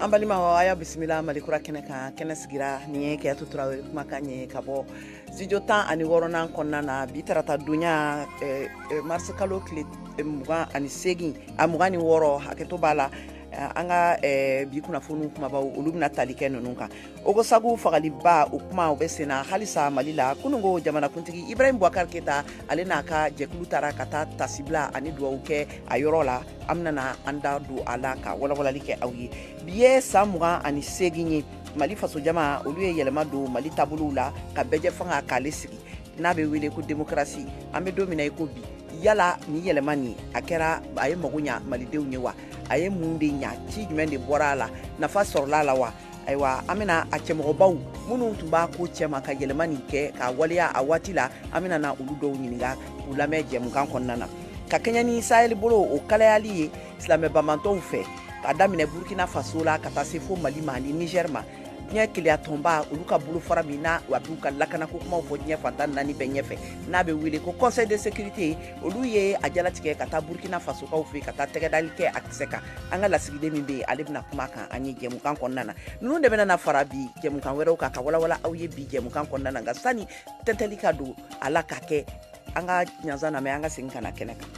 an balimaw a y'a bisimila mali kura kɛnɛ kan kɛnɛ sigira nin ye kadiatu tarawele kumakan ye ka bɔ studio tan ani wɔɔrɔnan kɔnɔna na bi tarata don ye eh, eh, marisi kalo tile eh, mugan ani segin a mugan ni wɔɔrɔ hakɛto b'a la an ka bi kunnafoni kumabaw olu bɛna tali kɛ ninnu kan ogosagu fagaliba o kuma o bɛ senna halisa mali la kunungo jamanakuntigi ibrahim bubakar keyita ale n'a ka jɛkulu taara ka taa tasibila ani duwawu kɛ a yɔrɔ la an bɛna na an da don a la ka walawalali kɛ aw ye bi ye saan mugan ani segin ye mali fasojama olu ye yɛlɛma don mali tabolow la ka bɛɛjɛfanga k'ale sigi n'a bɛ wele ko demokrasi an bɛ don min na i ko bi yala ni yɛlɛma nin a kɛra a ye mago ɲa malidenw ye wa a ye mun de ɲa ci jumɛn de bɔra a la nafa sɔrɔla a la wa ayiwa an bɛna a cɛmɔgɔbaw minnu tun b'a ko cɛma ka yɛlɛma nin kɛ k'a waleya a waati la an bɛna na olu dɔw ɲininga k'u lamɛn jɛmukan kɔnɔna na ka kɛɲɛ ni sahɛli bolo o kalayali ye silamɛ banbaantɔw fɛ ka daminɛ burkina faso la ka taa se fo mali ma ani nigɛr ma diɲɛ kelenya tɔnba olu ka bolofara min na a b'u ka lakanako kumaw fɔ diɲɛ fan tan ni naani bɛɛ ɲɛfɛ n'a bɛ wele ko conseil de sécurité olu ye a jalatigɛ ka taa burukina fasokaw fɛ ka taa tɛgɛdali kɛ a kisɛ kan an ka lasigiden min bɛ yen ale bɛna kuma a kan an ye jɛmukan kɔnɔna na ninnu de bɛna fara bi jɛmukan wɛrɛw kan ka walawala aw ye bi jɛmukan kɔnɔna na nka sani tɛntɛli ka don a la ka kɛ an ka ɲansa lamɛn an ka segin ka na kɛnɛ kan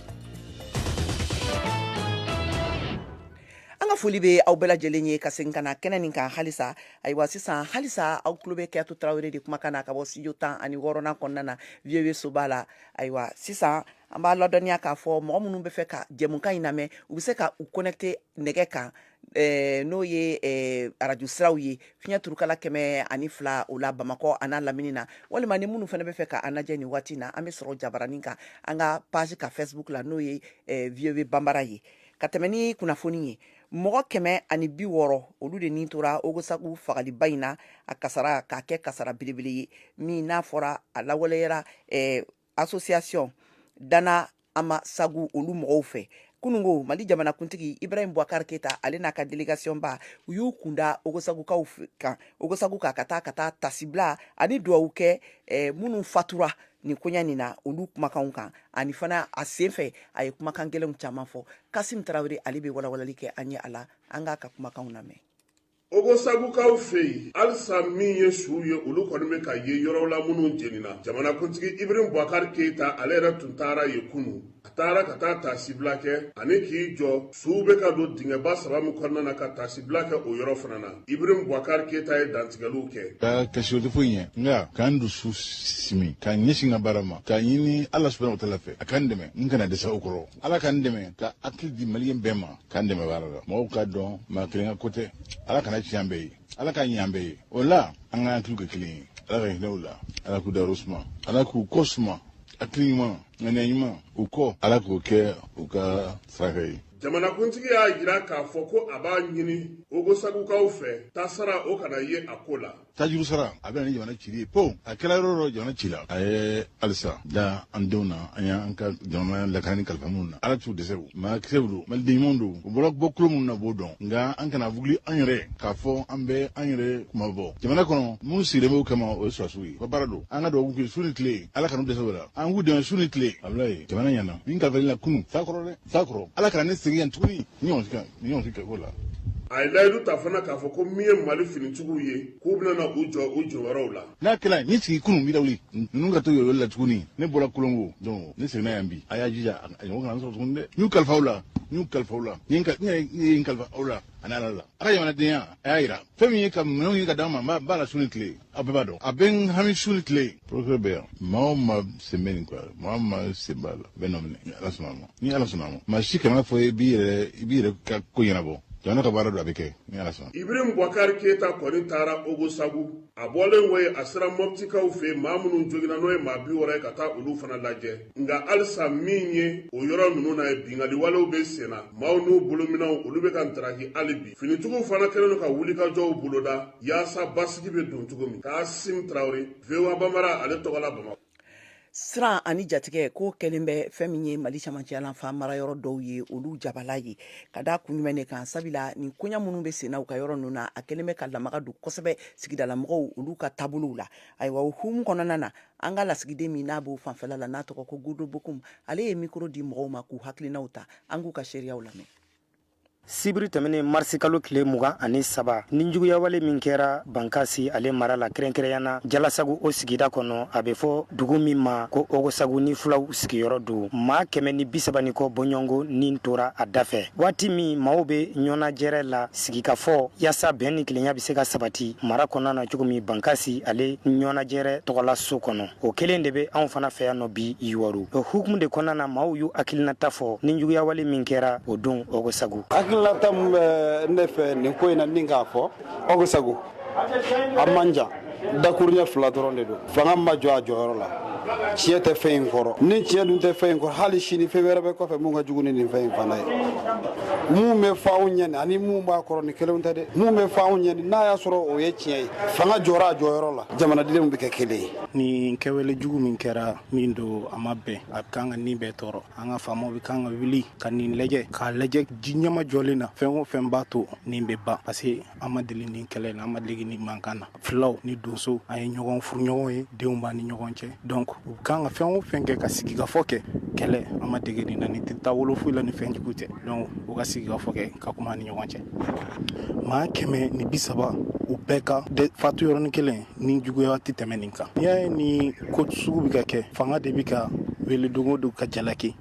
an ka foli bɛ aw bɛɛ lajɛlen ye ka segin ka na kɛnɛ nin kan halisa ayiwa sisan halisa aw tulo bɛ kadiatu tarawele de kumakan na ka bɔ studio tan ani wɔɔrɔnan kɔnɔna na voa soba la ayiwa sisan an b'a ladɔnniya k'a fɔ mɔgɔ minnu bɛ fɛ ka jɛmukan in lamɛn u bɛ se ka u connecte nɛgɛ kan eh, n'o ye eh, arajo siraw ye fiɲɛ turukala kɛmɛ ani fila o la bamakɔ an'a lamini na walima ni minnu fana bɛ fɛ ka an lajɛ nin waati na an bɛ sɔrɔ jabaranin kan an ka page ka facebook la n'o ye eh, voa banbara ye ka tɛmɛ ni kunnafoni ye mɔgɔ kɛmɛ ani bi wɔɔrɔ olu de ni tora ogosagu fagaliba in na a kasara k'a kɛ kasara belebele ye min n'a fɔra a lawaleyara eh, association dana amasagu olu mɔgɔw fɛ kunungo mali jamanakuntigi ibrahim bubakar keyita ale n'a ka delegation ba u y'u kun da ogosagukaw kan ogosagu kan ka taa ka taa tasibila ani duwawu kɛ eh, minnu fatura nin koɲɛ nin na olu kumakanw kan ani fana a sen fɛ a ye kumakan gɛlɛnw caman fɔ kasim tarawele ale bɛ walawalali kɛ an ye a la an k'a ka kumakanw lamɛn ogosagukaw fɛ yen halisa min ye suw ye olu kɔni bɛ ka ye yɔrɔw la minnu jenina jamanakuntigi ibrahim bubakari keyita ale yɛrɛ tun taara yen kunu taara ka taa taasibila kɛ ani k'i jɔ suw bɛ ka don dingɛba saba min kɔnɔna na ka taasibila kɛ o yɔrɔ fana na ibrahim bubakari keyita ye dantigɛliw kɛ ka kasi o tɛ foyi ɲɛ nka k'an dusu simi k'an ɲɛsin ka baara ma k'a ɲini ala subahana wataala fɛ a ka n dɛmɛ n kana dɛsɛ o kɔrɔ ala ka n dɛmɛ ka hakili di maliyɛn bɛɛ ma ka n dɛmɛ baara la mɔgɔw k'a dɔn maa kelen ka ko tɛ ala kan'a tiɲɛ an bɛɛ ye ala k'a ɲɛ an bɛɛ ye o la an ka hakiliw kɛ kelen ye ala ka hinɛ u la ala k'u dayɔrɔ suma ala k'u kɔ suma hakili ɲuman ŋaniya ɲuman u kɔ ala k'o kɛ u ka saraka ye jamanakuntigi y'a jira k'a fɔ ko a b'a ɲini ogosagukaw fɛ tasara o kana ye a ko la tajuru sara a bɛ na ni jamana cili ye po a kɛra yɔrɔ dɔ jamana cila a ye halisa da an denw na an y'an ka jamana lakanani kalifa minnu na ala t'u dɛsɛ u maa kisɛw don maliden ɲumanw don u bɔra bɔkolo minnu na b'o dɔn nka an kana wuli an yɛrɛ k'a fɔ an bɛ an yɛrɛ kunmabɔ jamana kɔnɔ minnu sigilen b'o kama o ye sɔrɔdasiw ye u ka baara don an ka dugawu k'u ye su ni tile ala kan'u dɛsɛ o la an k'u dɛmɛ su ni tile abulayi jamana ɲɛna min kalifa i la kunu sa kɔrɔ dɛ sa kɔrɔ ala kana ne segin yan tuguni ni ɲɔgɔn sikɛ ni ɲɔgɔn sikɛ ko la a ye layidu ta fana k'a fɔ ko min ye mali finitigiw ye k'u bɛna u jɔ u jɔyɔrɔw la n'a kɛra ni sigi kunun bi dawuli ninnu ka to yɔrɔli la tuguni ne bɔra kolongo donc ne seginna yan bi a y'a jija a ɲɔgɔn kana sɔrɔ tuguni dɛ n y'u kalifa aw la n y'u kalifa aw la n ye n kalifa aw la ani ala la a ka jamanadenya a y'a yira fɛn min ye ka minɛnw ye ka d'an ma n b'a la su ni tile a bɛɛ b'a dɔn a bɛ n hami su ni tile ye procureur bɛ yan maa o maa sen bɛ nin ko la maa o maa sen b'a la a bɛn'o minɛ ni ala sɔnna a ma ni ala sɔnna a ma maa si kana fɔ i b'i yɛrɛ i b'i yɛrɛ ka ko ɲɛnabɔ jamana ka baara don a bɛ kɛ ni ala sɔnna ibrahim bubakari keyita kɔni taara ogosagu a bɔlen wo ye a sera mɔptikaw fɛ maa minnu joginna n'o ye maa biwɔɔrɔ ye ka taa olu fana lajɛ nka halisa min ye o yɔrɔ ninnu na ye binkanniwalew bɛ senna maaw n'u bolominɛnw olu bɛ ka ntaraki hali bi finitigiw fana kɛlen don ka wulikajɔw boloda yaasa basigi bɛ don cogo min kasim tarawele voa bambara ale tɔgɔ la bamakɔ siran ani jatigɛ ko kɛlen bɛ fɛn min ye mali camancɛyalanfa marayɔrɔ dɔw ye olu jabala ye ka da kun jumɛn de kan sabula nin koɲa minnu bɛ senna u ka yɔrɔ ninnu na a kɛlen bɛ ka lamaga don kosɛbɛ sigidalamɔgɔw olu ka taabolow la ayiwa o hukumu kɔnɔna na an ka lasigiden min n'a b'o fanfɛla la n'a tɔgɔ ko Gourdo Bocoum ale ye micro di mɔgɔw ma k'u hakilinaw ta an k'u ka seereyaw lamɛn sibiri tɛmɛnen marisi kalo tile mugan ani saba nijuguyawale min kɛra bankasi ale mara la kɛrɛnkɛrɛnyana jalasagu o sigida kɔnɔ a bɛ fɔ dugu min ma ko ogosagu ni fulaw sigiyɔrɔ don maa kɛmɛ ni bisaba ni kɔ bɔɲɔgɔnko ni tora a dafɛ waati min maaw bɛ ɲɔgɔnlajɛrɛ la sigikafɔ yaasa bɛn ni kelenya bɛ se ka sabati mara kɔnɔna na cogo min bankasi ale ɲɔgɔnlajɛrɛ tɔgɔla so kɔnɔ o kelen de bɛ anw fana fɛ yan nɔ bi yuwaru o hukumu de kɔnɔna na maaw y'u hakilinata fɔ nijuguyawale min kɛra o don ogosagu hakilinata min bɛ ne fɛ nin ko in na ni k'a fɔ ogosagu a man jan dakuruɲɛ fila dɔrɔn de don fanga ma jɔ a jɔyɔrɔ la tiɲɛ tɛ fɛn in kɔrɔ ni tiɲɛ dun tɛ fɛn in kɔrɔ hali sini fɛn wɛrɛ bɛ kɔfɛ min ka jugu ni nin fɛn in fana ye mun bɛ fa anw ɲɛni ani mun b'a kɔrɔ ni kelenw tɛ dɛ mun bɛ fa anw ɲɛni n'a y'a sɔrɔ o ye tiɲɛ ye fanga jɔra a jɔyɔrɔ la jamanadenw bɛ kɛ kelen ye nin kɛwale jugu min kɛra min don a ma bɛn a kan ka an bɛɛ tɔɔrɔ an ka faamaw bɛ kan ka wuli ka nin lajɛ k'a lajɛ ji nɛmajɔlen na fɛn o fɛn b'a to nin bɛ ban parce que an ma deli ni kɛlɛ na an ma deli ni mankan na filaw ni donso an ye ɲɔgɔn furuɲɔgɔn ye denw b'an ni ɲɔgɔn cɛ donc u bɛ kan ka fɛn o fɛn kɛ ka sigikafɔ kɛ kɛlɛ an ma dege nin na nin tɛ taa wolo foyi la ni fɛn jugu tɛ donc u ka sigikafɔ kɛ ka kuma ni ɲɔgɔn cɛ maa kɛmɛ ni bi saba u bɛɛ ka fatu yɔrɔnin kelen ninjuguya tɛ tɛmɛ nin kan n'i y'a ye nin ko sugu bɛ ka kɛ fanga de bɛ ka wele don o don ka jalaki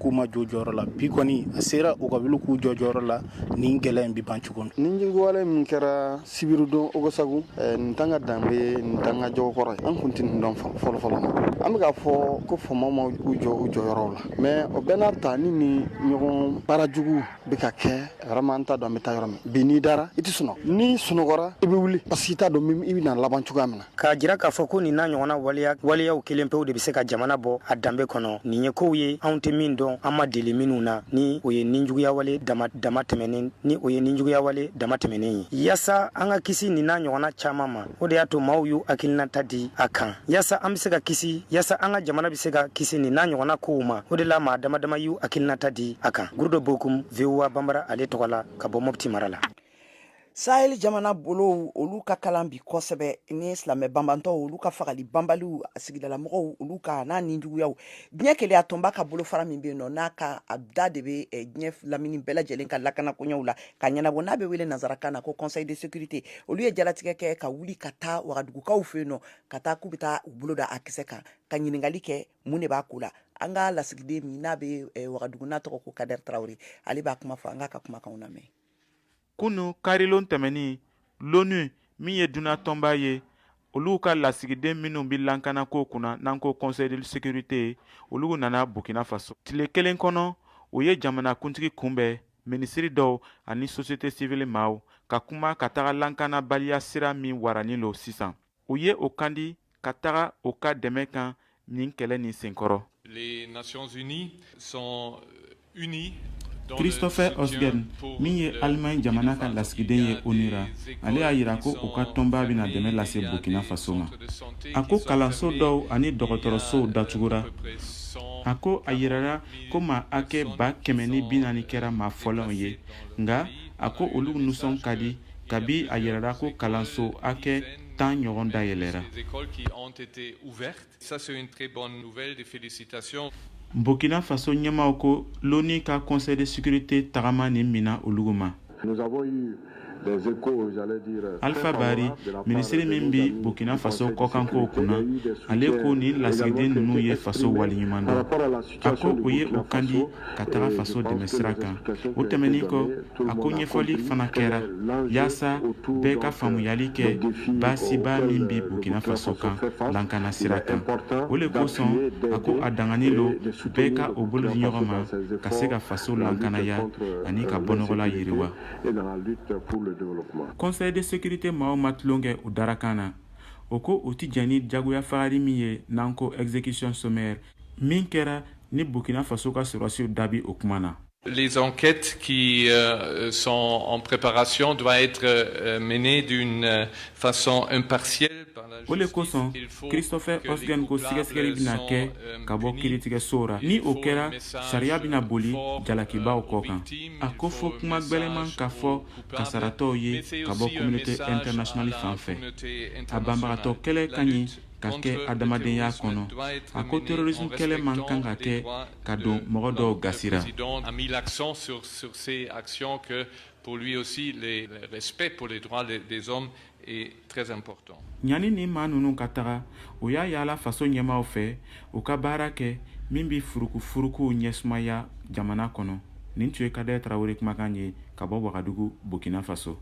k'u ma jɔ jɔyɔrɔ la bi kɔni a sera u ka wuli k'u jɔ jɔyɔrɔ la nin gɛlɛya in bi ban cogo min nin juguwale min kɛra sibiridon ogosagu eh, nin t'an ka danbe nin t'an ka jogo kɔrɔ ye an kun tɛ nin dɔn fɔlɔ fɔlɔ ma an bɛ k'a fɔ ko faamaw ma u jɔ u jɔyɔrɔw la mais o bɛɛ n'a ta ni nin ɲɔgɔn baara jugu bɛ ka kɛ vraiment an t'a dɔn an bɛ taa yɔrɔ min bi n'i dara i tɛ sunɔgɔ n'i sunɔgɔra i bɛ wuli parce que i t'a dɔn i bɛna laban cogoya min na k'a jira k'a fɔ ko nin n'a ɲɔgɔnna waleya waleyaw kelen pew de bɛ se ka jamana bɔ a danbe kɔnɔ nin ye kow ye anw tɛ min dɔn an ma deli minnu na ni o ye ninjuguyawale damatɛmɛnen ye yaasa an ka kisi nin n'a ɲɔgɔnna caman ma o de y'a to maaw y'u hakilinata di a kan yaasa an bɛ se ka kisi yaasa an ka jamana bɛ se ka kisi nin n'a ɲɔgɔnna kow ma o de la maa damadama y'u hakilinata di a kan gurudo bokum voa banbara ale tɔgɔ la ka bɔ mɔpti mara la sahel jamana bolow olu ka kalan bi kosɛbɛ ni silamɛ banbaatɔw olu ka fagali banbaliw sigidalamɔgɔw olu kan ani ninjuguyaw diɲɛ kelenya tɔnba ka bolofara min bɛ yen nɔ n'a ka a da de bɛ eh, diɲɛ lamini bɛɛ lajɛlen ka lakanakoɲɛw la ka ɲɛnabɔ n'a bɛ wele nansarakan na ko conseil de sécurité olu ye jalatigɛ kɛ ka wuli ka taa wagadugukaw fɛ yen nɔ ka taa k'u bɛ taa u bolo da a kisɛ kan ka ɲininkali kɛ mun de b'a ko la an ka lasigiden min n'a bɛ eh, wagadugu n'a tɔgɔ ko kadɛri tarawele ale b'a kuma fɔ an k'a ka kumakanw lamɛn kunu karilon tɛmɛnin l'onu min ye duniɲa tɔnba ye olu ka lasigiden minnu bɛ lankanakow kunna n'an ko conseil de sécurité olu nana burkina faso tile kelen kɔnɔ u ye jamanakuntigi kunbɛn minisiri dɔw ani société civile maaw ka kuma ka taga lankanabaliya sira min waranin lo sisan o ye o kandi ka taga o ka dɛmɛ kan nin kɛlɛ nin senkɔrɔ christopher heusgen min ye alimaɲi jamana ka lasigiden ye onu ra ale y'a yira ko u ka tɔnba bɛna dɛmɛ lase burkina faso ma a ko kalanso dɔw ani dɔgɔtɔrɔsow datugura a ko a yirara ko maa hakɛ ba kɛmɛ ni bi naani kɛra maa fɔlɔw ye nga a ko olu nusɔn ka di kabi a yirala ko kalanso hakɛ tan ɲɔgɔn dayɛlɛra burkina faso ɲɛmaaw ko l'ONU ka conseil de sécurité tagama nin mina olugu ma alpha bari minisiri min bi burkina faso kɔkankow kunna ale ko nin lasigiden ninnu ye faso waleɲuman dɔn a ko o ye o kan di ka taga faso dɛmɛ sira kan o tɛmɛnin kɔ a ko ɲɛfɔli fana kɛra yaasa bɛɛ ka faamuyali kɛ baasiba min bɛ burkina faso kan lankana sira kan o le kosɔn a ko a daganin lo bɛɛ ka o bolo di ɲɔgɔn ma ka se ka faso lankanaya ani ka bɔnɔgɔla yiriwa conseil de sécurité maaw ma tulon kɛ u darakan na o ko u tɛ jɛn ni jagoya fagari min ye n'an ko exécution sommaire min kɛra ni burkina faso ka sɔrɔdasiw da bi o kuma na les enquêtes qui euh, sont en préparation doivent être euh, menées d'une euh, façon impartiale. o le kosɔn christoph heusgen ko sɛgɛsɛgɛli bɛna kɛ ka bɔ kiritigɛso ra ni o kɛra sariya bɛna boli jalakibaw kɔ kan a ko fɔ kuma gwɛlɛman ka fɔ kasaratɔw ye ka bɔ communauté internationale fan fɛ a banbagatɔ kɛlɛ ka ɲi ka kɛ adamadenya kɔnɔ a ko terrorisme kɛlɛ man kan ka kɛ ka don mɔgɔ dɔw gasi ra Pour lui aussi, le respect pour les droits des hommes est très important. ɲani ni maa ninnu ka taga u y'a yaala faso ɲɛmaaw fɛ u ka baara kɛ min bɛ furukufurukuw ɲɛsumaya jamana kɔnɔ nin tun ye kadɛrɛ tarawele kumakan ye ka bɔ wagadugu burkina faso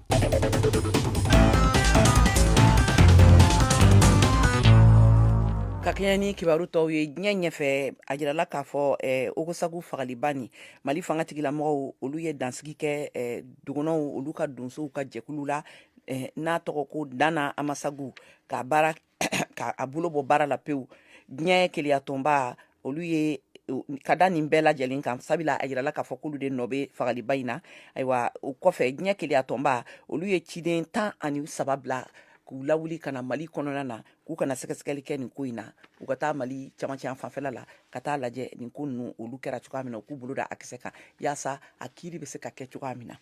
ka kɛɲɛ ni kibaru tɔw ye diɲɛ ɲɛfɛ a jirala k'a fɔ eh, ogosagu fagaliba ni mali fanga tigilamɔgɔw olu ye dansigi kɛ eh, dɔgɔnɔw olu ka donsow ka jɛkulu la eh, n'a tɔgɔ ko dan na amasagu ka baara ka a bolo bɔ baara la pewu diɲɛ kelenyatɔnba olu ye ka da nin bɛɛ lajɛlen kan sabula a yirala k'a fɔ k'olu de nɔ bɛ fagaliba in na ayiwa o kɔfɛ diɲɛ kelenyatɔnba olu ye ciden tan ani saba bila k'u lawuli ka na mali kɔnɔna na k'u ka na sɛgɛsɛgɛli kɛ nin ko in na u ka taa mali camancɛyan fanfɛla la ka taa lajɛ nin ko ninnu olu kɛra cogoya min na u k'u bolo da a kisɛ kan yaasa a kiiri bɛ se ka kɛ cogoya min na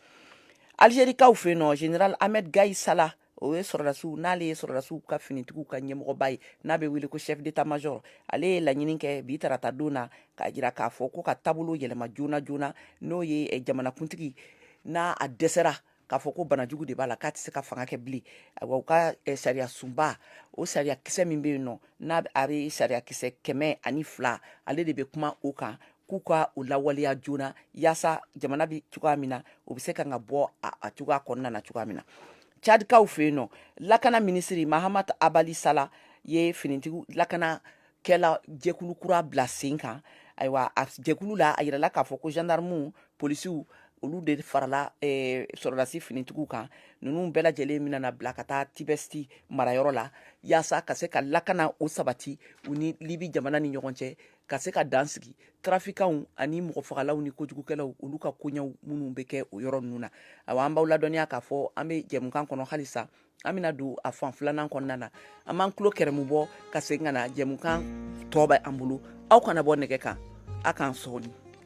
alizerikaw fɛ yen nɔ général ahmed gaïd salah o ye sɔrɔdasiw n'ale ye sɔrɔdasiw ka finitigiw ka ɲɛmɔgɔba ye n'a bɛ wele ko chef d'état major ale ye laɲini kɛ bi tarata don na k'a jira k'a fɔ ko ka taabolo yɛlɛma joona joona n'o ye eh, jamanakuntigi n'a a dɛsɛra k'a fɔ ko banajugu de b'a la k'a tɛ se ka fanga kɛ bilen ayiwa u ka eh, sariyasunba o sariya kisɛ min bɛ yen nɔ n'a bɛ sariya kisɛ kɛmɛ ani fila ale de bɛ kuma o kan k'u ka u lawaleya joona yaasa jamana bɛ cogoya min na u bɛ se ka ka bɔ a cogoya kɔnɔna na cogoya min na cadikaw fɛ yen nɔ lakana minisiri mahamat abali sala ye finitigiw lakana kɛla jɛkulu kura bila sen kan ayiwa a jɛkulu la a yirala k'a fɔ ko gendarmew polisiw olu de farala eh, sɔrɔdasi finitigiw kan ninnu bɛɛ lajɛlen mina na bila ka taa tibɛsti marayɔrɔ la yaasa ka se ka lakana o sabati u ni libi jamana ni ɲɔgɔn cɛ ka se ka dan sigi trafikanw ani mɔgɔ fagalaw ni kojugukɛlaw olu ka koɲɛw minnu bɛ kɛ o yɔrɔ ninnu na awa an b'aw ladɔnniya k'a fɔ an bɛ jɛmukan kɔnɔ halisa an bɛna don a fan filanan kɔnɔna na an b'an tulo geren bɔ ka segin ka na jɛmukan tɔ bɛ an bolo aw kana bɔ nɛgɛ kan a k'an sɔɔni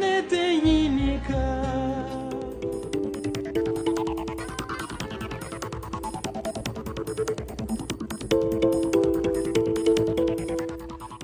ne tɛ ɲini ka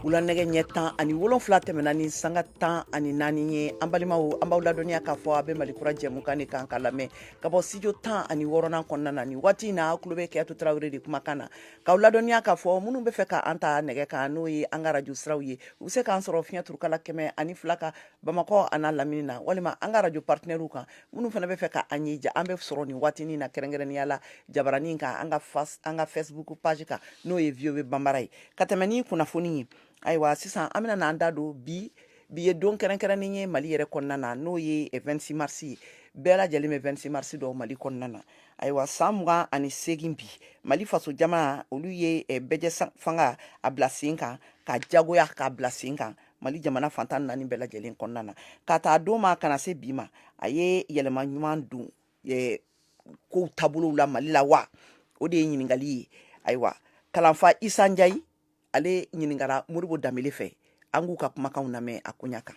wula nɛgɛ ɲɛ tan ani wolonfila tɛmɛna ni sanga tan ani naani ye an balimaw an b'aw ladɔnniya k'a fɔ a bɛ mali kura jɛmukan de kan ka lamɛn ka bɔ studio tan ani wɔɔrɔnan kɔnɔna na nin waati in na a tulo bɛ kajatu tarawele de kumakan na Ka ladɔnniya k'a fɔ minnu b'a fɛ k'an ta nɛgɛ kan n'o ye an ka arajo siraw ye u bɛ se k'an sɔrɔ fiɲɛyɛnurukala kɛmɛ ani fila kan bamakɔ an'a lamini na walima an ka arajo partenairew kan minnu fana b'a fɛ k'an ye an bɛ sɔrɔ nin waati na kɛrɛnkɛrɛnya la jabaranin kan an ka an ka facebook page kan n'o ye voa bambara ye ka tɛmɛn kunnafoni ye ayiwa sisan an bɛna an da don bi bi ye don kɛrɛnkɛrɛnnen ye mali yɛrɛ kɔnɔna na n'o ye 26 mars ye bɛɛ lajɛlen bɛ 26 mars dɔn mali kɔnɔna na ayiwa san mugan ani segin bi mali faso jama olu ye eh, bɛɛjɛfanga a bila sen kan ka jagoya k'a bila sen kan mali jamana fan tan ni naani bɛɛ lajɛlen kɔnɔna na k'a ta o don ma ka na se bi ma a ye yɛlɛma ɲuman don kow taabolow la mali la wa o de ye ɲininkali ye ayiwa kalanfa isa njayi ale ɲininkara modibo danbɛlɛ fɛ an k'u ka kumakanw lamɛn a koɲa kan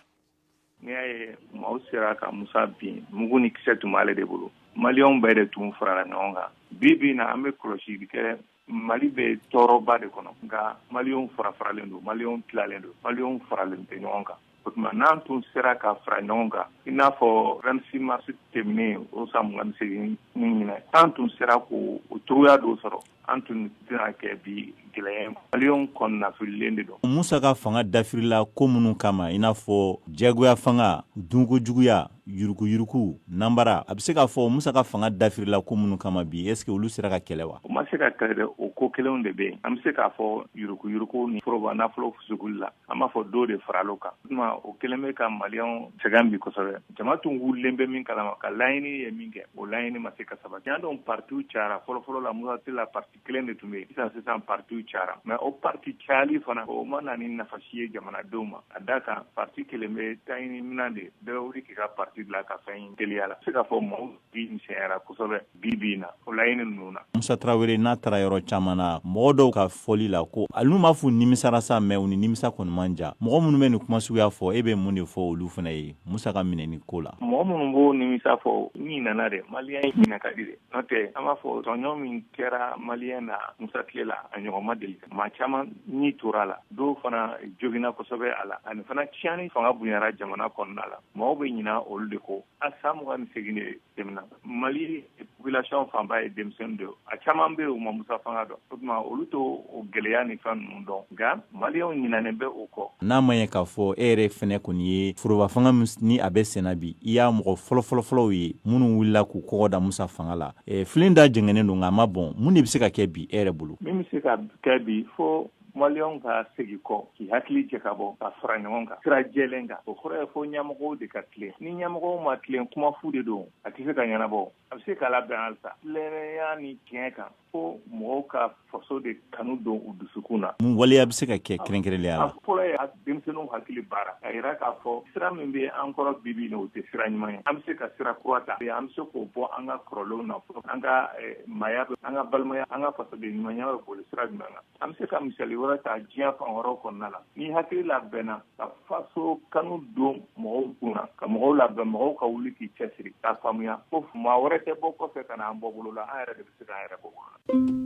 n'i y'a ye maaw sera ka musa bin mugu ni kisɛ tun b'ale de bolo maliyɛnw bɛɛ de tun farala ɲɔgɔn kan bi bi na an bɛ kɔlɔsili kɛ mali bɛ tɔɔrɔba de kɔnɔ nka maliyɛnw farafaralen don maliyɛnw tilalen don maliyɛnw faralen tɛ ɲɔgɔn kan o tuma n'an tun sera ka fara ɲɔgɔn kan i n'a fɔ 26 mars tɛmɛnen o san mugan ni segin ni ɲinan an tun sera k'o o cogoya dɔ sɔrɔ an tun tɛna kɛ bi gɛlɛya maliyɛnw kɔnɔnafililen de don musa ka fanga dafirila ko minnu kama in n'a fɔ jagoyafanga dunko juguya yurugu yurugu nanbara a bɛ se k'a fɔ musa ka fanga dafirila ko minnu kama bi est-ce que olu sera ka kɛlɛ wa u ma se ka kɛlɛ dɛ o ko kelenw de bɛ yen an bɛ se k'a fɔ yurugu yurugu ni foroba nafolo fusukuli la an b'a fɔ dɔ de faral'o kan tuma o kelen bɛ ka maliyɛnw sɛgɛn bi kosɛbɛ jama tun wulilen bɛ min kalama ka laɲini ye min kɛ o laɲini ma se ka sabati i y'a dɔn partiw cayara fɔlɔfɔlɔ la musa tile la parti kelen de tun bɛ sisan sisan partiw cayara mɛ o parti cayali fana o ma na ni nafasi ye jamanadenw ma a da kan parti kelen bɛ taɲini min na de bɛɛ wuli k'i ka parti bila ka fɛn teliya la se k'a fɔ maaw bi misɛnyara kosɛbɛ bi bi in na o laɲini ninnu na. Musa Tarawele n'a taara yɔrɔ caman na mɔgɔ dɔw ka fɔli la ko hali n'u m'a f'u nimisara sa mɛ u ni nimisa kɔni man jan mɔgɔ minnu bɛ nin kuma suguya fɔ e bɛ mun de fɔ olu fana ye Musa ka minɛni ko la. Mɔgɔ minnu b'o nimisa fɔ u ɲinana dɛ maliyɛn ɲinɛ ka di dɛ n'o tɛ an b'a fɔ tɔɲɔ min kɛra maliyɛn na Musa tile la a ɲɔgɔn ma deli maa caman ni tora a la dɔw fana joginna kosɛbɛ a la ani fana tiɲɛni fanga bonyara jamana kɔnɔna la mɔgɔw bɛ ɲina olu de ko a san mugan ni segin de tɛmɛna mali population fanba ye denmisɛnnin de a caman bɛ u ma musa fanga dɔn o tuma olu t'o gɛlɛya ni fɛn ninnu dɔn nka maliyɛnw ɲinɛnen bɛ o kɔ n'a ma ye k'a fɔ e yɛrɛ fɛnɛ kɔni ye foroba fanga min ni a bɛ senna bi i y'a mɔgɔ fɔlɔfɔlɔfɔlɔw ye minnu wulila k'u kɔgɔ da musa fanga la filen da jɛngɛnen don nka a ma bɔn mun de bɛ se ka kɛ bi e yɛrɛ bolo min bɛ se ka kɛ bi fo maliyɛn ka segi kɔ k'i hakili jɛ ka bɔ ka fara ɲɔgɔn kan sira jɛlen kan o kɔrɔ ye fo ɲɛmɔgɔw de ka tilen ni ɲɛmɔgɔw ma tilen kuma fu de don a tɛ se ka ɲɛnabɔ a bɛ se ka labɛn halisa tilennenya ni tiɲɛ kan fo mɔgɔw ka faso de kanu don u dusukun na mun waleya bɛ se ka kɛ kɛrɛnkɛrɛnlenya la fɔlɔ ye denmisɛnninw hakili baara a yira k'a fɔ sira min bɛ an kɔrɔ bibi na o tɛ sira ɲuman ye an bɛ se ka sira kura ta an bɛ se k'o bɔ an ka kɔrɔlenw na fɔlɔ an ka eh, maaya an ka balimaya an ka fasoden ɲumanya bɛ boli sira jumɛn kan an bɛ se ka misali wɛrɛ ta diɲɛ fan wɛrɛw kɔnɔna la ni hakili labɛnna ka faso kanu don mɔgɔw kun na ka mɔgɔw labɛn mɔgɔw ka wuli k'i cɛsiri k'a faamuya ko maa wɛrɛ tɛ bɔ kɔfɛ ka na an bɔ bolo la an yɛrɛ de bɛ se k'an yɛrɛ bɔ bolo la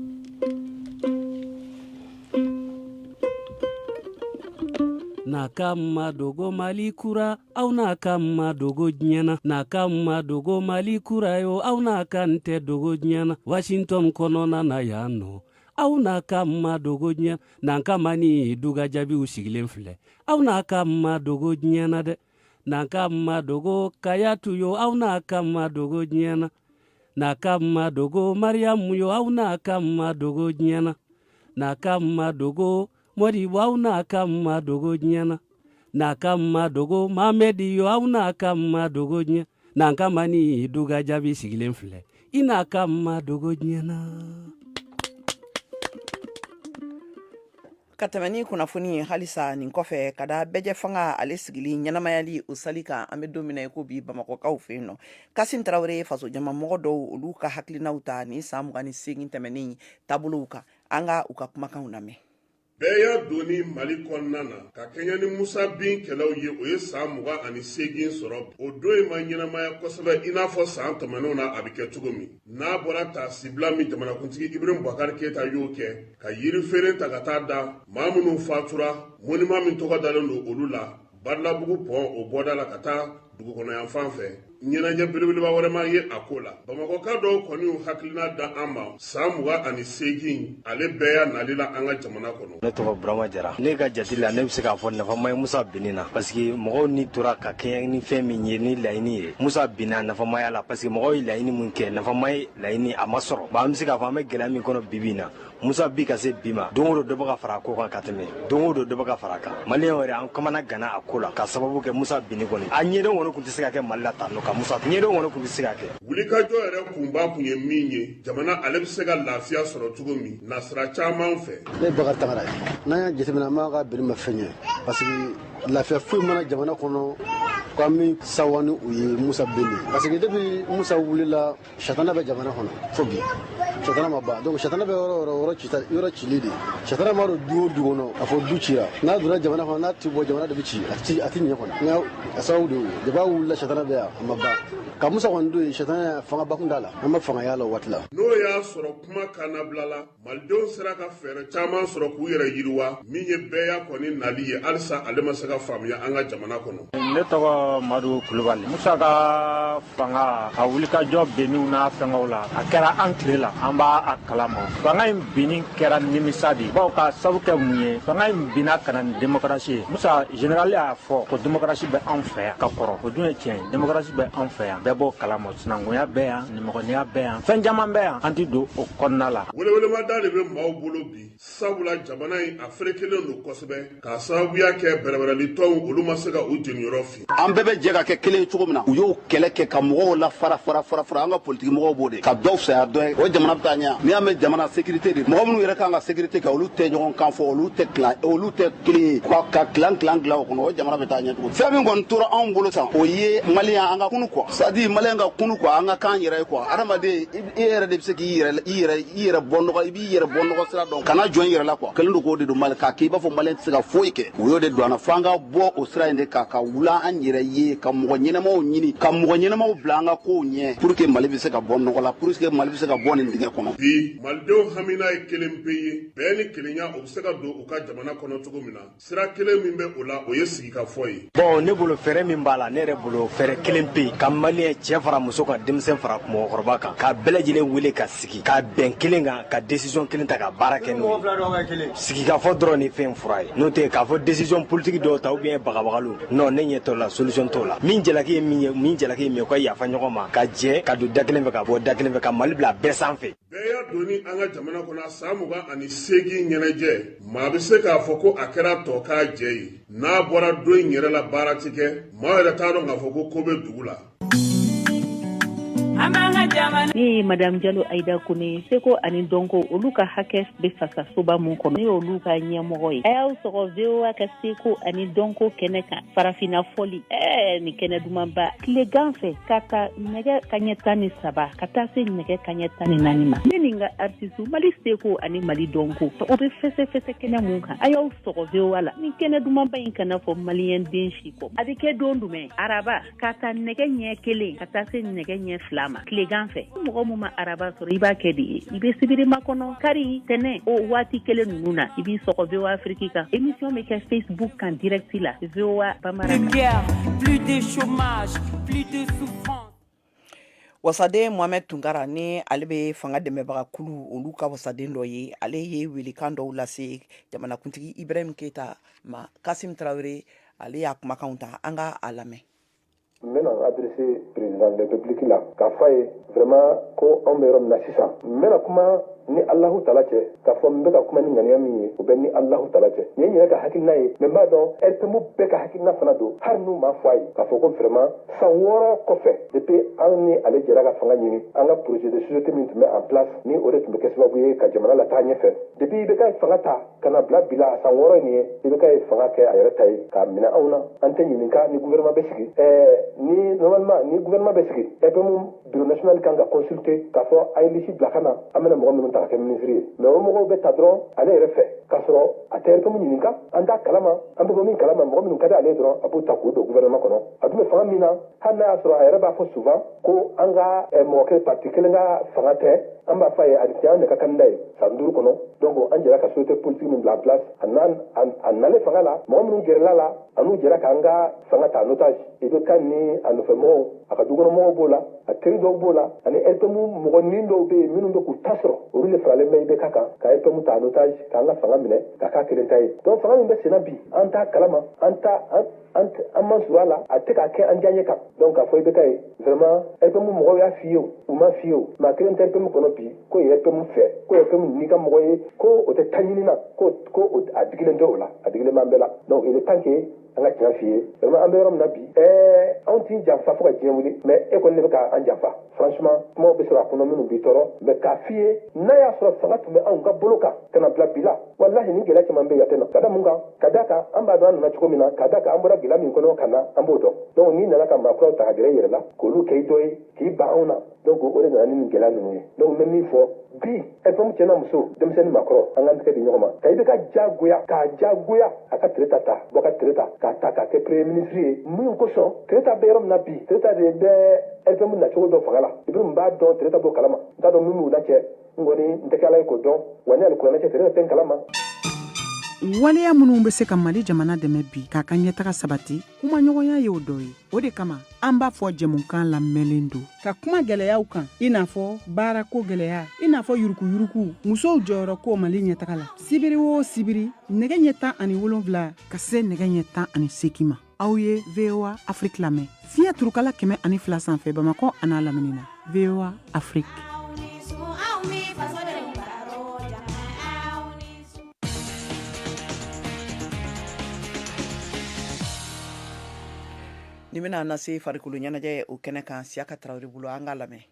na ka madogo mali kura aw n'a ka madogo diɲɛ na na ka madogo mali kura yo aw n'a ka n tɛ dogo diɲɛ na washington kɔnɔna na yan nɔ aw n'a ka madogo diɲɛ n'an ka ma ni duga jaabiw sigilen filɛ aw n'a ka madogo diɲɛ na dɛ n'an ka madogo kajatu yo aw n'a ka madogo diɲɛ na n'a ka madogo mariyamu yo aw n'a ka madogo diɲɛ na n'a ka madogo Mori aw na ka ma dogo diɲɛ na na ka ma dogo mamadi yo aw na ka ma dogo diɲɛ na ka ma ni duga jaabi sigilen filɛ i n'a ka ma dogo diɲɛ na ka tɛmɛ ni kunnafoni ye halisa nin kɔfɛ ka da bɛɛjɛ fanga ale sigili ɲɛnamayali o sali kan an bɛ don min i ko bi bamakɔkaw fɛ yen nɔ kasimu tarawele ye fasojama mɔgɔ dɔw olu ka hakilinaw ta ni san mugan ni segin tɛmɛnen taabolow kan an ka u ka kumakanw lamɛn bɛɛya donni mali kɔnɔna na ka kɛɲɛ ni musa bin kɛlɛw ye o ye saan mugan ani seegin sɔrɔ o don in ma ɲɛnamaya kosɛbɛ i n'a fɔ saan tɛmɛnenw na a bɛ kɛ cogo min n'a bɔra taasibila min jamanakuntigi ibrahim bakari keyita y'o kɛ ka yirifeere ta ka taa da maa minnu fatura monima min tɔgɔ dalen don olu la badalabugu pɔn o bɔda la ka taa dugukɔnɔ yanfan fɛ ɲɛnajɛ belebeleba wɛrɛ ma ye a ko la bamakɔka dɔw kɔni y'u hakilina da an ma saan mugan ani seegin ale bɛɛya nali la an ka jamana kɔnɔ ne tɔgɔ burama jara ne ka jati la ne bɛ se k'a fɔ nafa ma ye musa binni na parce que mɔgɔw ni tora ka kɛɲɛ ni fɛn min ye ni laɲini ye musa binna nafa ma y'a la parce que mɔgɔw ye laɲini min kɛ nafa ma ye laɲini a ma sɔrɔ bon an bɛ se k'a fɔ an bɛ gɛlɛya min kɔnɔ bibi in na musa bin ka se bi ma don o don dɔ bɛ ka fara a ko kan ka tɛmɛ don o don dɔ bɛ ka fara a kan maliyɛn yɛrɛ an kamanaganna a ko la k'a sababu kɛ musa binni kɔni a ɲɛdɔn kɔni tun tɛ se ka kɛ mali la tan nɔ ka musa ɲɛdɔn kɔni tun tɛ se ka kɛ wulikajɔ yɛrɛ kunba tun ye min ye jamana ale bɛ se ka lafiya sɔrɔ cogo min na sira caman fɛ ne bakari tagara n'an y'a jateminɛ an b'a ka biri ma fɛn ye parce que lafiya foyi ma na jamana kɔnɔ ko an bɛ sawa ni u ye musa binni parce que depuis musa wulila sɛtana bɛ jamana kɔnɔ fo bi sɛtana ma ban donc sɛtana bɛ yɔrɔ yɔrɔ yɔrɔ cita yɔrɔ cili de sɛtana ma don du o du kɔnɔ k'a fɔ du cira n'a donna jamana kɔnɔ n'a ti bɔ jamana de bɛ ci a ti a ti ɲɛ kɔnɔ nka a sababu de y'o ye jaba wulila sɛtana bɛ yan a ma ban nka musa kɔni don yen sɛtana fangaba tun t'a la an ma fanga y'a la waati la n'o y'a sɔrɔ kuma kannabila la malidenw sera ka fɛɛrɛ caman sɔrɔ k'u yɛrɛ yiriwa min ye bɛɛya kɔni nali ye halisa ale ma se ka faamuya an ka jamana kɔnɔ ne tɔgɔ madu kulubali musa ka fanga a wulikajɔ benniw n'a fɛngɛw la a kɛra an tile la an b'a a kalama fanga in binni kɛra nimisa de baw k'a sabu kɛ mun ye fanga in binna ka na ni demokarasi ye musa generali y'a fɔ ko demokarasi bɛ anw fɛ yan ka kɔrɔ o dun ye tiɲɛ ye demokarasi bɛ anw fɛ yan bɛɛ b'o kalama sinankunya bɛ yan mɔgɔniya bɛ yan fɛn caman bɛ yan an tɛ don o kɔnɔna la welewelebada de bɛ maaw bolo bi sabula jamana in a ferekelen don kosɛbɛ k'a sababuya kɛ bɛrɛbɛrɛlitɔnw olu ma se ka u jeninyɔrɔ fin an bɛɛ bɛ jɛ ka kɛ kelen ye cogo min na u y'o kɛlɛ kɛ ka mɔgɔw la fara fara fara fara an ka politiki mɔgɔw b'o de ka dɔw fisaya dɔ ye o jamana bɛ taa ɲɛ n'i y'a mɛn jamana sécurité de mɔgɔ minnu yɛrɛ kan ka sécurité kɛ olu tɛ ɲɔgɔn kan fɔ olu tɛ tilan olu tɛ kelen ye ka tilan tilan tilan o kɔnɔ o jamana bɛ taa ɲɛ cogo fɛn min kɔni tora anw bolo tan o ye maliyɛn an ka kunun quoi c'est-à-dire maliyɛn ka kunun quoi an ka k'an yɛrɛ ye quoi adamaden i yɛrɛ de bɛ se k'i yɛrɛ i yɛrɛ i yɛrɛ bɔ nɔgɔ i b'i yɛrɛ bɔ nɔgɔ sira dɔn kana jɔn i yɛrɛ la quoi kɛlen don k'o de don mali k'a kɛ i b'a fɔ maliyɛn tɛ se ka foyi kɛ o y'o de don an na fo an ka bɔ o sira in de kan ka wuli an yɛrɛ ye ka mɔgɔ ɲɛnamaw ɲini ka mɔgɔ ɲɛnamaw bila an ka kow ɲɛ pour que mali bɛ se ka bɔ nɔgɔ la pour que mali bɛ se ka bɔ nin dingɛ kɔnɔ bi malidenw hamina ye kelen pe ye bɛn ni kelenya o bɛ se ka don u ka jamana kɔnɔ cogo min na sira kelen min bɛ o la o ye sigikafɔ ye bɔn ne bolo fɛɛrɛ min b'a la ne yɛrɛ bolo fɛɛrɛ kelenpe ye ka maliyɛn cɛ fara muso kan denmisɛn fara mɔgɔkɔrɔba kan ka bɛɛ lajɛlen wele ka sigi ka bɛn kelen kan ka desisɔn kelen ta ka baara kɛ n'o sigikafɔ dɔrɔn ni fɛn fura ye n'o tɛ k'a fɔ desisɔn politiki dɔw ta ou bien bagabagali nɔn ne ɲɛ t'o la solisɔn t'o la min jalaki ye min ye min jalaki ye min ye u ka yafa ɲɔgɔn ma ka jɛ ka don da kelen fɛ ka bɔ da kelen fɛ ka mali bila bɛɛ sanfɛ bɛɛ y'a dɔn an ka jamana kɔnɔ san mugan ani seegin ɲɛnajɛ maa bɛ se k'a fɔ ko a kɛra tokajɛ ye n'a bɔra don in yɛrɛ la baara tɛ kɛ maa yɛrɛ t'a dɔn k'a fɔ ko ko bɛ dugu la ne ye madamu jalo ayida kone seko ani dɔnko olu ka hakɛ bɛ fasa soba min kɔnɔ ne y'olu ka ɲɛmɔgɔ ye a y'aw sɔgɔ VOA ka seko ani dɔnko kɛnɛ kan farafinna fɔli ɛɛ nin kɛnɛ dumanba tilegan fɛ ka ta nɛgɛ kaɲɛ tan ni saba ka taa se nɛgɛ kaɲɛ tan ni naani ma ne ni n ka artisiw mali seko ani mali dɔnko o bɛ fɛsɛfɛsɛ kɛnɛ min kan a y'aw sɔgɔ VOA la nin kɛnɛ dumanba in kana fɔ maliyɛnden si kɔ a bɛ kɛ don jumɛn araba ka ta nɛgɛ ɲɛ kelen ka taa se nɛgɛ ɲɛ fila ma tilegan fɛ ni mɔgɔ min ma araba sɔrɔ i b'a kɛ de ye i bɛ sibiri makɔnɔ kari tɛnɛ o waati kelen ninnu na i b'i sɔgɔ voa afriki kan émission bɛ kɛ facebook kan direct la voa bambara plus de chômage plus de souffrance wasaden mohamɛd tunkara ni ale bɛ fanga dɛmɛbaga kulu olu ka wasaden dɔ ye ale ye welekan dɔw lase jamanakuntigi ibrahim keyita ma kasim tarawele ale y'a kumakanw ta an ka a lamɛn n bɛna n adrese président de république la k'a fɔ a ye vraiment ko anw bɛ yɔrɔ min na sisan n bɛna kuma ni alahu tala cɛ k'a fɔ n bɛ ka kuma ni ŋaniya min ye o bɛ ni alahu tala cɛ nin ye n yɛrɛ ka hakilina ye mɛ n b'a dɔn RPM bɛɛ ka hakilina fana don hali n'u m'a fɔ a ye k'a fɔ ko vraiment san wɔɔrɔ kɔfɛ depuis an ni ale jɛra ka fanga ɲini an ka projet de société min tun bɛ en place ni o de tun bɛ kɛ sababu ye ka jamana lataa ɲɛfɛ depuis IBK ye fanga ta ka n'a bila bi la a san wɔɔrɔ nin ye IBK ye fanga kɛ a yɛrɛ ta ye k'a minɛ anw na an tɛ ɲininka ni guvɛrɛnma bɛ sigi ni normalement ni guvɛrɛnma bɛ sigi RPM biro nasiyɔnali kan ka kɔnsulte k'a fɔ a ye lisi bila ka na an bɛna mɔgɔ minnu ta ka kɛ minisiri ye mɛ o mɔgɔw bɛ ta dɔrɔn ale yɛrɛ fɛ k'a sɔrɔ a tɛ RPM ɲininka an t'a kalama an bɛ bɔ min kalama mɔgɔ minnu ka di ale ye dɔrɔn a b'u ta k'u don guvɛrɛnma kɔnɔ a dun bɛ fanga min na hali n'a y'a sɔrɔ a yɛrɛ b'a fɔ souvent ko an ka eh, mɔgɔ kelen parti kelen ka fanga tɛ an b'a fɔ a ye a tun ye an de ka kandida ye san duuru kɔnɔ donc an jɛra ka société politique min bila en place a nana a nalen fanga la mɔgɔ minnu gɛrɛla a la a n'u jɛra k'an ka fanga ta en otage IBK ni a nɔfɛ mɔgɔw a ka dukɔnɔmɔgɔw b'o la a teri dɔw b'o la ani RPM mɔgɔnin dɔw bɛ yen minnu bɛ k'u ta sɔrɔ olu de faralen bɛ IBK kan ka RPM ta en otage k'an ka fanga minɛ k'a k'a kelen ta ye donc fanga min bɛ senna bi an t'a kalama an t'a an an an ma sɔrɔ a la a tɛ k'a kɛ an diyaɲɛ kan donc k'a fɔ ibk ye vraiment rpm mɔgɔw y'a f'i ye o u m'a f'i ye o maa kelen tɛ rpm kɔnɔ bi ko ye rpm fɛ ko rpm n'i ka mɔgɔ ye ko o tɛ ta ɲini na ko ko a digilen tɛ o la a digilen b'an bɛɛ la donc il est temps que an ka tiɲɛ f'i ye vraiment an bɛ yɔrɔ min na bi ɛɛ anw t'i janfa fo ka diɲɛ wuli mais e kɔni ne bɛ ka an janfa franchement kumaw bɛ sɔrɔ a kɔnɔ minnu b'i tɔɔrɔ mais k'a f'i ye n'a y'a sɔrɔ fanga tun bɛ anw ka bolo kan ka na bila bi la walahi nin gɛlɛya caman bɛ yan tɛ na ka da mun kan ka da kan an b'a dɔn an nana cogo min na ka da kan an bɔra gɛlɛya min kɔnɔ ka na an b'o dɔn donc n'i nana ka maakuraw ta ka gɛrɛ i yɛrɛ la k'olu kɛ i dɔ ye k'i ban anw na donc o de nana ni nin gɛlɛya ninnu ye donc n bɛ min fɔ bi rpm cɛ n'a muso denmisɛn ni maakɔrɔ an k'an tɛgɛ di ɲɔgɔn ma ka ibk jagoya k'a jagoya a ka tereta ta bokari tereta k'a ta k'a kɛ premier ministre ye mun kosɔn tereta bɛ yɔrɔ min na bi tereta de bɛ rpm nacogo dɔn fanga la i bɛ mun b'a dɔn tereta b'o kalama n t'a dɔn min b'u la cɛ n kɔni n tɛ kɛ ala ye k'o dɔn wa ne ali kuranɛ cɛ tereta tɛ n kalama waleya minnu bɛ se ka mali jamana dɛmɛ bi k'a ka ɲɛtaga sabati kumaɲɔgɔnya y'o dɔ ye o de kama an b'a fɔ jɛmukan labɛnlen don ka kuma gɛlɛyaw kan i n'a fɔ baarako gɛlɛya i n'a fɔ yurukuyuruku musow jɔyɔrɔ ko mali ɲɛtaga la sibiri o sibiri nɛgɛ ɲɛ tan ani wolonfila ka se nɛgɛ ɲɛ tan ani seki ma aw ye voa afiriki lamɛn fiɲɛ turukala kɛmɛ ani fila sanfɛ bamakɔ an'a lamini na voa afiriki Nin bɛna an nase farikolo ɲɛnajɛ o kɛnɛ kan siyaka tarawele bolo an ka lamɛn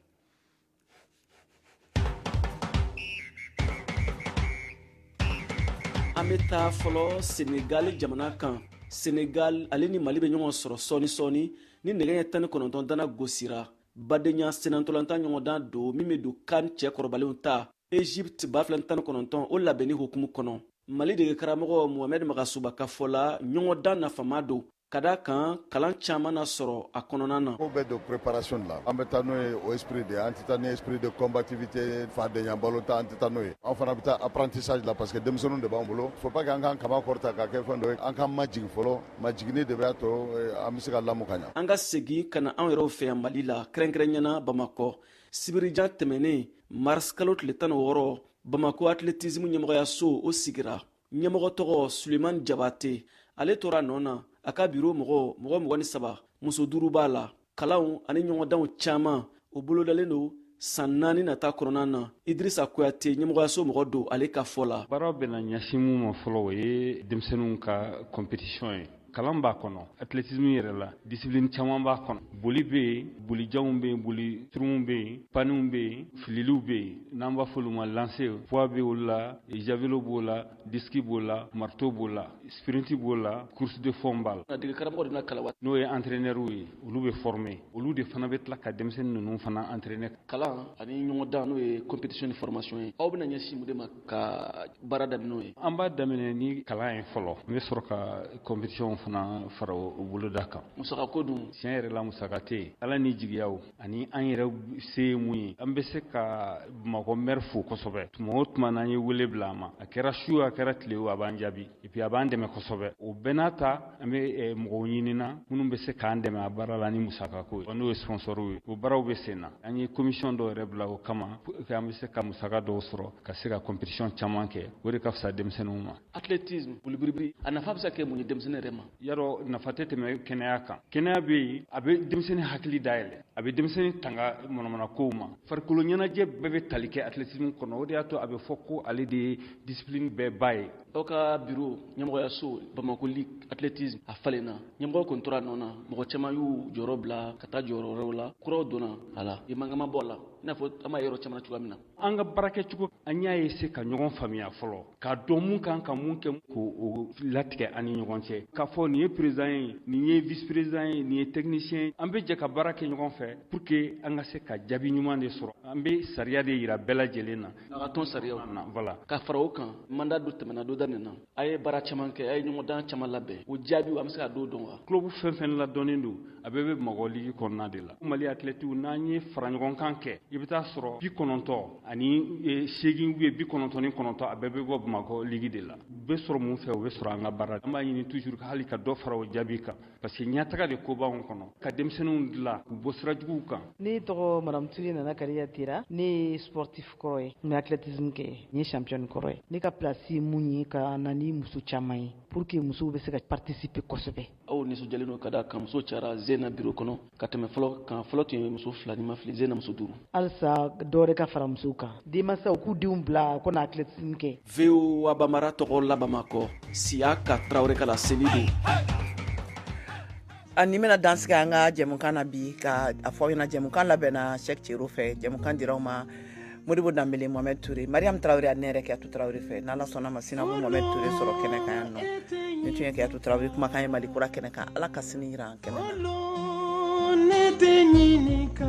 an bɛ taa fɔlɔ senegali jamana kan senegali ale ni mali bɛ ɲɔgɔn sɔrɔ sɔɔni sɔɔni ni nɛgɛ ɲɛ tan ni kɔnɔntɔn dana gosira badenya sennantolatan ɲɔgɔndan don min bɛ don can cɛ kɔrɔbalenw ta egypte ba fila tan kɔnɔntɔn o labɛnni hukumu kɔnɔ mali dege karamɔgɔ mohamɛd magasuba ka fɔ la ɲɔgɔndan nafama don ka da kan kalan caaman na sɔrɔ a kɔnɔna na ko bɛ don préparation de la an bɛ taa n'o ye o esprit de an tɛ taa ni esprit de combativité fadenya balɔntan an tɛ taa n'o ye an fana bɛ taa apprentissage la parce que denmisɛnninw de b'an bolo faut pas que an k'an kaman kɔrɔta ka kɛ fɛn dɔ ye an k'an majigin fɔlɔ majiginni de b'a to eh, an bɛ se ka lamu ka ɲa an ka segin ka na an yɛrɛw fɛ yan mali la kɛrɛnkɛrɛnyana bamakɔ sibiridon tɛmɛnen marisikalo tile tan ni wɔɔrɔ bamako atletismu ɲɛmɔgɔyaso o sigira ɲɛmɔgɔ tɔgɔ suleman jabate ale tora a nɔ na a ka biro mɔgɔ mɔgɔ mugan ni saba muso duuru b'a la kalanw ani ɲɔgɔndanw caman o bolodalen don san naani nata kɔnɔna na idirisa kuyate ɲɛmɔgɔyaso mɔgɔ don ale ka fɔ la baaraw bɛna ɲɛsin min ma fɔlɔ o ye denmisɛnninw ka kɔnpetisiyɔn ye kalan b'a kɔnɔ atletisme yɛrɛ la discipline caman b'a kɔnɔ boli bɛ yen bolijanw bɛ yen boli surunw bɛ yen paniw bɛ yen fililiw bɛ yen n'an b'a f'olu ma lancer poids bɛ olu la javelo b'o la diski b'o la marto b'o la sprinti b'o la course de fond b'a la degekaramɔgɔw de bɛna kalan n'o ye entraînɛrw ye olu bɛ former olu de fana bɛ tila ka denmisɛnnin ninnu fana entraîner kalan ani ɲɔgɔndan n'o ye competition ni formation ye aw bɛna ɲɛsin mun de ma ka baara daminɛ n'o ye an b'a daminɛ ni kalan ye fɔlɔ an bɛ sɔrɔ ka competitionw fana fara o boloda kan musakako dun tiɲɛ yɛrɛ la musaka tɛ yen ala ni jigiyaw ani an yɛrɛ se ye mun ye an bɛ se ka bamakɔ mɛri fo kosɛbɛ tuma o tuma n'an ye wele bila a ma a kɛra su a kɛra tile o a b'an jaabi et puis a b'an dɛmɛ kosɛbɛ o bɛɛ n'a ta an bɛ eh, mɔgɔw ɲinina minnu bɛ se k'an dɛmɛ a baara la ni musakako ye n'o ye sponsɔrw ye o baaraw bɛ sen na an ye komisiyɔn dɔw yɛrɛ bila o kama pour que an bɛ se ka musaka dɔw sɔrɔ ka se ka competition caman kɛ o de ka fisa denmisɛnninw ma atletisme bolibiribiri a nafa bɛ se ka kɛ mun ye denmisɛnnin yɛrɛ ma yarɔ nafa tɛ tɛmɛ kɛnɛya kan kɛnɛya bɛ yen a bɛ denmisɛnnin hakili dayɛlɛ a bɛ denmisɛnnin tanga manamanakow ma farikolo ɲɛnajɛ bɛɛ bɛ tali kɛ atletisme kɔnɔ o de y'a to a bɛ fɔ ko ale de ye discipline bɛɛ ba ye aw ka biro ɲɛmɔgɔyaso bamakɔ ligi atletisme a falenna ɲɛmɔgɔ kɔni tora a nɔ na mɔgɔ caman y'u jɔyɔrɔ bila ka taa jɔyɔrɔ wɛrɛw la kuraw donna a la e mankan ma bɔ a la i n'a fɔ an b'a ye yɔrɔ caman na cogoya min na an ka baarakɛcogo an y'a ye se ka ɲɔgɔn faamuya fɔlɔ k'a dɔn mun kan ka mun kɛ k'o latigɛ an ni ɲɔgɔn cɛ k'a fɔ nin ye peresidan ye nin ye vice peresidan ye nin ye tɛkinisiyɛn ye an bɛ jɛ ka baara kɛ ɲɔgɔn fɛ pour que an ka se ka jaabi ɲuman de sɔrɔ an bɛ sariya de yira bɛɛ lajɛlen na a ka tɔn sariyaw kunna voilà ka fara o kan manda dɔ tɛmɛna dɔ daminɛna aw ye baara caman kɛ aw ye ɲɔgɔndan caman labɛn o jaabiw an bɛ se ka dɔw dɔn wa kulubu fɛn fɛn ladɔnnen don a bɛɛ bɛ bamakɔ ligi kɔnɔna de la mali atlɛtiw n'an y'u fara ɲɔgɔn kan kɛ i bɛ t'a sɔrɔ bi kɔnɔntɔ ani e, seegin ye bi kɔnɔntɔ ni kɔnɔntɔ a bɛɛ bɛ bɔ bamakɔ ligi de la o bɛ sɔrɔ mun fɛ o bɛ sɔrɔ an ka baara an b'a ɲini toujours hali ka dɔ fara o jaabi kan parce que ɲataga de ko b'anw kɔnɔ ka denmisɛnninw dilan k'u bɔ sira juguw kan ne tɔgɔ madamu ture nana kariya tera ne ye sportif kɔrɔ ye n bɛ athletisme kɛ n ye championne kɔrɔ ye ne ka plasi ye mun ye ka na ni muso caman ye pour que musow bɛ se ka participer kosɛbɛ aw nisɔndiyalen don ka da a kan muso cayara ɲinan biro kɔnɔ ka tɛmɛ fɔlɔ kan fɔlɔ tun ye muso fila ni n ma fili ɲinan muso duuru halisa dɔwɛrɛ ka fara musow kan denmansaw k'u denw bila k'u na atletisme kɛ voa bambara tɔgɔ la bamakɔ siyaka tarawele ka laseli don ani bɛna dan sigi an ka jɛmukan na bi ka a fɔ aw ɲɛna jɛmukan labɛnna sɛk cero fɛ jɛmukan dira aw ma modibo danbele mohamɛd ture mariam tarawre ani ne yɛrɛ kajatu tarawre fɛ n'ala sɔnna a ma sini aw bɛ mohamɛd ture sɔrɔ kɛnɛ kan yan nɔ nin tun ye kajatu tarawre kumakan ye mali kura kɛnɛ kan ala ka sini yira an kɛnɛ kan